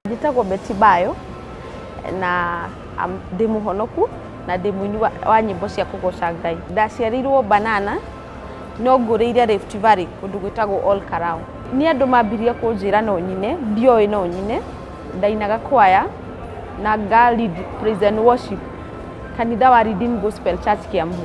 njĩtagwo Betty Bayo na am- ndĩ mũhonoku na ndĩ mũini wa, wa nyĩmbo cia kũgoca Ngai. Ndaciarirwo Banana no ngũrĩire Rift Valley kũndũ gwĩtagwo All Karau. Nĩ andũ mambirie kũnjĩra no nyine, ndioĩ no nyine, ndainaga kwaya na nga lead praise and worship kanitha wa Redeemed Gospel Church Kiambu.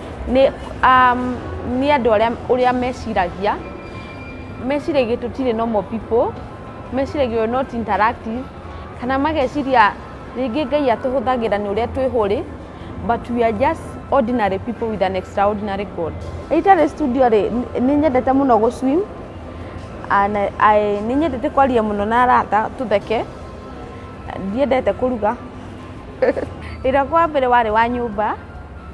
Nĩ nĩ andũ arĩa ũrĩa meciragia, meciragia tũtirĩ normal people, meciragia we are not interactive, kana mageciria rĩngĩ Ngai atũhũthagĩra nĩ ũrĩa twĩ holy, but we are just ordinary people with an extraordinary God. Rĩrĩa itarĩ studio rĩ, nĩ nyendete mũno gũ swim, na nĩ nyendete kwaria mũno na arata tũtheke, ndiendete kũruga. Wĩra wakwa wa mbere warĩ wa nyũmba.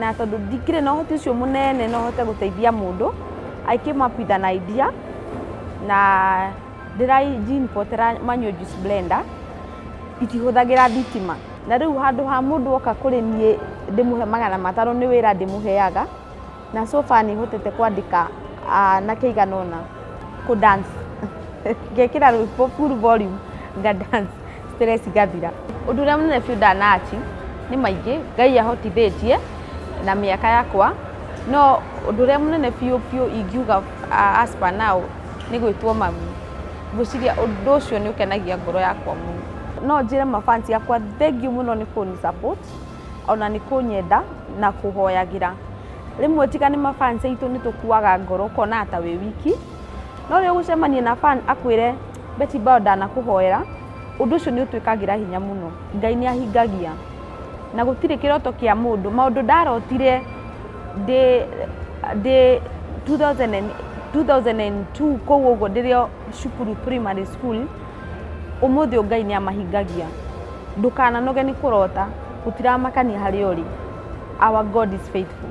na tondũ ndikĩrĩ na ũhoti ũcio mũnene no hote gũteithia mũndũ, I came up with an idea na ndĩra import -ĩra manual juice blender itihũthagĩra thitima. Na rĩu handũ ha mũndũ oka kũrĩ niĩ ndĩmũhe magana matano nĩ wĩra ndĩmũheaga. Na so far nĩ hotete kwandĩka anake aigana ũna kũ dance ngekĩra rwĩmbo full volume nga dance stress igathira. Ũndũ ũrĩa mũnene biũ ndana achieve nĩ maingĩ, Ngai ahotithĩtie na mĩaka yakwa, no ũndũ ũrĩa mũnene biũ biũ ingiuga as per now nĩ gwĩtwo mami. Ngwĩciria ũndũ ũcio nĩ ũkenagia ngoro yakwa mũno. No njĩre ma fans akwa thengiũ mũno nĩ kũnĩ support. ona nĩ kũnyenda na kũhoyagĩra. Rĩmwe tiga nĩ ma fans aitũ nĩ tũkuaga ngoro ũkonaga ta wĩ wiki, no rĩrĩa ũgũcemania na fan akwĩre Betty Bao ndanakũhoera, ũndũ ũcio nĩ ũtwĩkagĩra hinya mũno. Ngai nĩ ahingagia na gũtirĩ kĩroto kĩa mũndũ, maũndũ ndarotire ndĩ ndĩ two thousand and two kũu ũguo ndĩrĩ o cukuru primary school. Ũmũthĩ ũyũ Ngai nĩ amahingagia. Ndũkananoge nĩ kũrota, gũtiramakania harĩa ũrĩ. Our God is faithful.